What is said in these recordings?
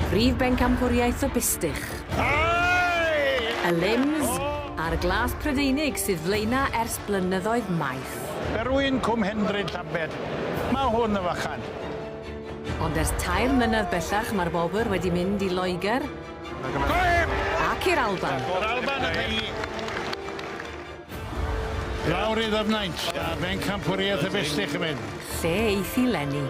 Prif bencampwriaeth y bistych. Y limbs a'r glas Prydeinig sydd flaena ers blynyddoedd maith. Berwyn Cwm Hendryn Llambed, mae hwn yn fychan. Ond ers tair mlynedd bellach mae'r wobr wedi mynd i Loegr ac i'r Alban. Yr Alban y teulu! Lawr i Ddyfnaint, a Bencampwriaeth y Festych chi'n mynd. Lle eiff i leni?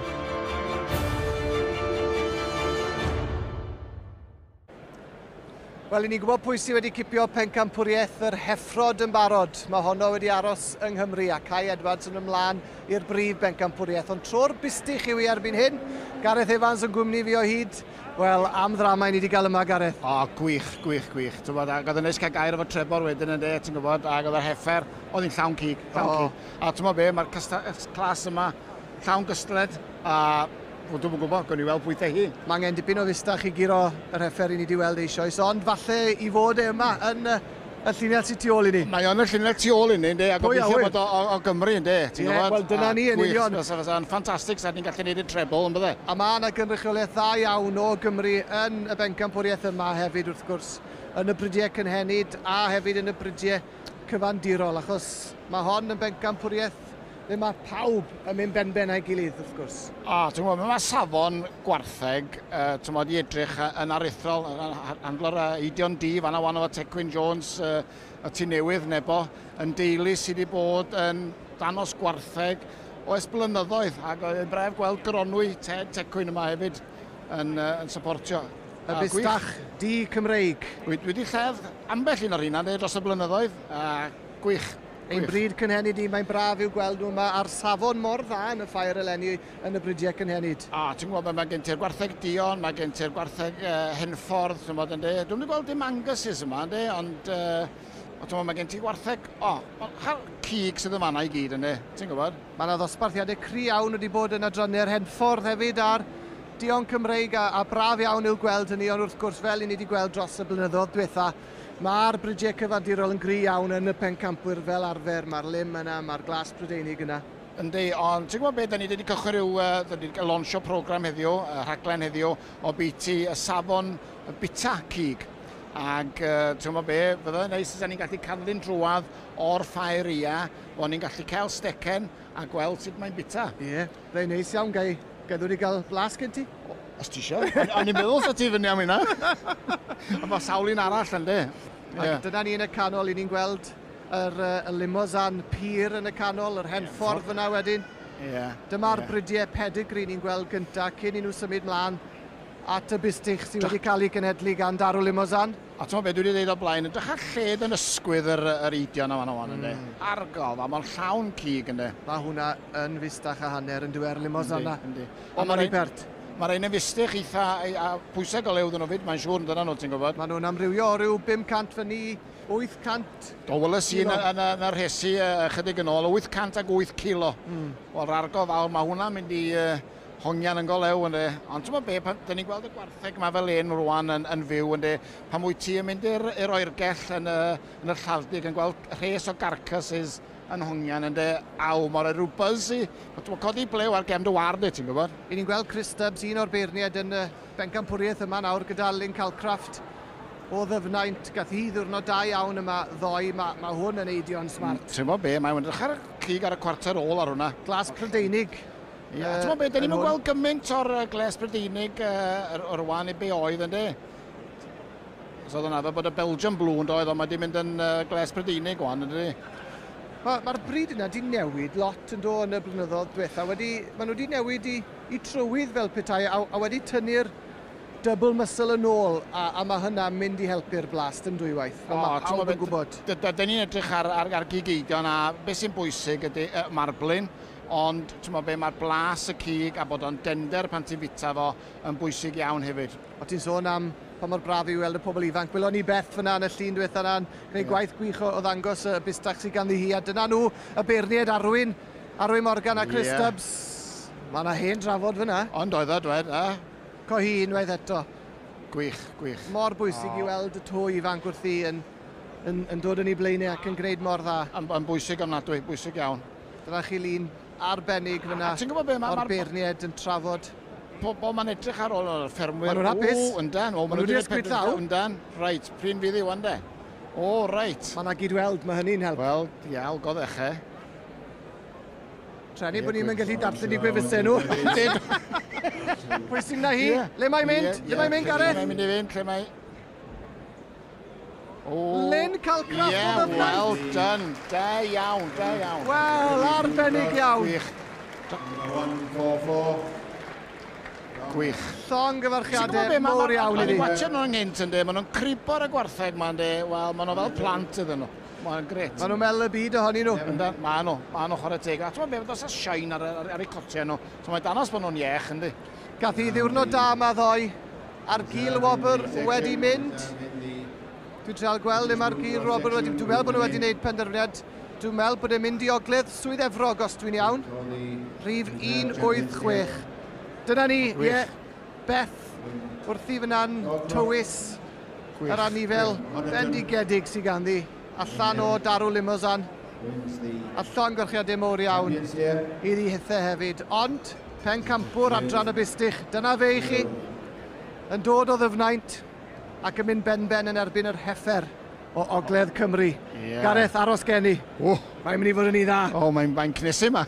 Wel, i ni'n gwybod pwy sydd wedi cipio pencampwriaeth yr heffrod yn barod. Mae honno wedi aros yng Nghymru a Cai Edwards yn ymlaen i'r brif bencampwriaeth. Ond tro'r bustych yw i erbyn hyn. Gareth Evans yn gwmni fi o hyd. Wel, am ddrama i ni 'di gael yma, Gareth? O, gwych, gwych, gwych. Ti'n gwybod, ac oedd yn neis cael gair efo Trebor wedyn yn de, ti'n gwybod, ac oedd yr heffer, oedd hi'n llawn cig, llawn oh. cig. A ti'n gwybod be, mae'r clas yma llawn gystled, a Wel, dwi'n gwybod, gwn i weld pwythau hi. Mae angen dipyn o fustach i guro yr heffer i ni di weld eisoes, ond falle i fod e yma yn Y llinell sy tu ôl i ni. Mae o'n y llinell tu ôl inni, ynde, a gobeithio bod o o, o Gymru, ynde, ti'n yeah, gwybod? Wel, dyna ni, yn union. Gwych, fysa yn ffantastig, sa'n ni'n gallu gwneud y treble, yn bydde? A mae yna gynrychiolaeth dda iawn o Gymru yn y bencampwriaeth yma hefyd, wrth gwrs, yn y brydiau cynhenid a hefyd yn y brydiau cyfandirol, achos mae hon yn bencampwriaeth Ble mae pawb yn mynd benben a'i gilydd, wrth gwrs. O, ti'n gwybod, mae safon gwartheg, uh, ti'n gwybod, i edrych yn aruthrol, handlo'r uh, Eidion D, fanna wan efo Tecwyn Jones, uh, y tu newydd, nebo, yn deulu sydd wedi bod yn danos gwartheg o esblynyddoedd, ac yn bref gweld gronwy Ted Tecwyn yma hefyd yn, uh, yn supportio. Y bustach di Cymreig. Wedi lledd ambell un o'r hynna dros y blynyddoedd, a gwych. Ein bryd cynhenid i, mae'n braf i'w gweld nhw yma ar safon mor dda yn y ffair eleni yn y bridiau cynhenid. O, ti'n gwybod, mae, mae gen ti'r gwartheg Dion, mae gen ti'r gwartheg uh, Henffordd, ti'n gwybod, ynddi. Dwi'n wedi gweld dim Angus's yma, ynddi, ond... Uh, o, ti'n mae gen ti wartheg, o, hal cig sydd yn fanna i gyd ynddi, ti'n gwybod? Mae yna ddosbarthiadau cri iawn wedi bod yn adrannu'r Henffordd hefyd a'r Dion Cymreig a, a braf iawn i'w gweld hynny, ond wrth gwrs, fel i ni wedi gweld dros y blynyddoedd diwetha, Mae'r brydiau cyfandirol yn gry iawn yn y pencampwyr fel arfer, mae'r lym yna, mae'r glas Prydeinig yna. Yndi, ond ti'n gwybod be, da ni wedi cychwyn rhyw, uh, da ni wedi lonsio program heddiw, uh, rhaglen heddiw, o biti y safon y bita cig. Ac uh, ti'n gwybod be, fydda yn neis os da ni'n gallu cadw'n drwad o'r ffair ia, o'n ni'n gallu cael stecen a gweld sut mae'n bita. Ie. Yeah. Fe'n neis iawn, gai gadw ni gael blas gen ti? Os ti isio. O'n i'n meddwl sa ti fyny am hynna. Ond mae sawl un arall yn de. Yeah. Dyna ni yn y canol, i ni'n gweld yr, uh, y limousin pur yn y canol, yr hen ffordd fyna wedyn. Yeah. Dyma'r yeah. bridiau pedigree ni'n gweld gyntaf cyn i nhw symud mlaen at y bustych sydd wedi cael ei genedlu gan Darw Limousin. A t'mod be' dwi 'di ddeud o'r blaen, edrych ar lled yn ysgwydd yr yr eidion yma ŵan ynde? Argol, ma' ma'n llawn cig ynde? Ma' hwnna yn fistach a hanner yndyw e, yr limos yna. Yndi, yndi. Ond ma'n rhy pert. Ma' rhein yn fistych eitha ei- a pwyseg o lew 'dyn nhw 'fyd mae'n siŵr yndydan nhw ti'n gwbod? Ma' nhw'n amrywio o ryw 500 fyn 'ny, 800 O weles i yn y yn y yn y rhesi yy ychydig yn ôl, 808 cilo. Hmm. Wel 'r argol fawr ma' hwnna'n mynd i yy hongian yn go lew ynde. Ond ti'n gwybod be, pan dyn ni'n gweld y gwartheg yma fel un rwan yn, yn fyw ynde, pan wyt ti yn mynd i'r, i'r oergell yn y, yn y llawdig yn gweld rhes o garcasses yn hongian ynde, aw, mor rhoi rhyw buzz i, ti'n gwybod, codi blew ar gefn dy ward e, ti'n gwybod. I ni'n gweld Chris Stubbs, un o'r beirniaid yn y bencampwriaeth yma nawr gyda Lynn Calcraft o ddyfnaint. Gath hi ddiwrnod da iawn yma ddoe, mae, mae hwn yn eidio'n smart. Ti'n gwybod be, mae'n edrych ar y cig ar y cwarter ôl ar hwnna. Glas Prydeinig. Ie, a ti'n beth, da ni'n gweld gymaint o'r gles Brydeinig o'r wan i be oedd, ynddi? So oedd hwnna, bod y Belgium Blue yn doedd, ond mae wedi mynd yn uh, gles Brydeinig wan, ydy. Mae'r ma bryd yna wedi newid lot yn do yn y blynyddoedd diwetha. Wedi, maen nhw wedi newid i, i trywydd fel petai a, a wedi tynnu'r double muscle yn ôl a, a mae hynna mynd i helpu'r blast yn dwywaith. O, mae pawb yn gwybod. Dyn ni'n edrych ar, ar, ar gigeidion a beth sy'n bwysig ydy uh, marblin. Ond, timod be, mae'r blas y cig a bod o'n dender pan ti'n fita fo yn bwysig iawn hefyd. O ti'n sôn am pa mor braf yw weld y pobl ifanc. Welon ni Beth fyna yn y llun diwetha yna'n gwneud yeah. gwaith gwych o, o ddangos y bistach sydd ganddi hi. A dyna nhw, y beirniaid Arwyn, Arwyn Morgan a Chris yeah. Stubbs. Mae yna hen drafod fyna. Ond oedd o, dwed, a? Co hi unwaith eto. Gwych, gwych. Mor bwysig oh. i weld y to ifanc wrthi yn, yn, yn dod yn ei blaenau ac yn gwneud mor dda. Yn, yn bwysig ofnadwy, bwysig iawn. Dyna chi lun arbennig fyna o'r beirniaid yn trafod pobl mae'n edrych ar ôl o'r ffermwyr. Maen nhw'n hapus. O, yndan. O, maen nhw wedi ysbryd llaw. Yndan. Reit, pryn fydd i wan de. O, reit. Mae yna gyd-weld, mae hynny'n help. Wel, iawn, god eich e. Trenu bod ni'n mynd gallu darllen i gwefusau nhw. Pwy sy'n na hi? Le mae'n mynd? Le mae'n mynd, Gareth? Lle mae'n mynd i fynd? Lle mae... Oh. Lynn cael grafod yeah, o blaid. well done. Da iawn, da iawn. Wel, arbennig iawn. Gwych. Dyna'n gofo. Gwych. Llong gyfarchiadau mor iawn i ni. Watcha nhw'n nghynt yn de, maen nhw'n cribo'r y gwartheg ma'n de. Wel, maen nhw fel plant iddyn nhw. Mae'n gret. Maen nhw'n mel y byd ohonyn nhw. Yndan, maen nhw, maen nhw chwarae teg. A ti'n meddwl, fe fyddos a shine ar, ar, ar eu cotiau nhw. So mae danos bod nhw'n iech, yndi? Gath hi ddiwrnod da ma ddoe. A'r gul wobr wedi mynd. Dwi'n treol gweld le mae'r gul wobr wedi... Dwi'n meddwl bod nhw wedi gwneud penderfyniad. Dwi'n meddwl bod e'n mynd i ogledd Swydd Efrog os dwi'n iawn. Rhif 186. Dyna ni, ie. Yeah. Beth wrthi fyna'n tywys yr anifel bendigedig sydd ganddi allan o darw limozan. A llongyrschiadau mowr iawn iddi hithau hefyd. Ond... Pencampwr adran y Bustych, dyna fe i chi. Yn dod o ddyfnaint ac yn mynd ben-ben yn erbyn yr heffer o Ogledd Cymru. Yeah. Gareth, aros gen i. Oh. Mae'n mynd i fod yn un dda. Oh, mae'n mae cnesu yma.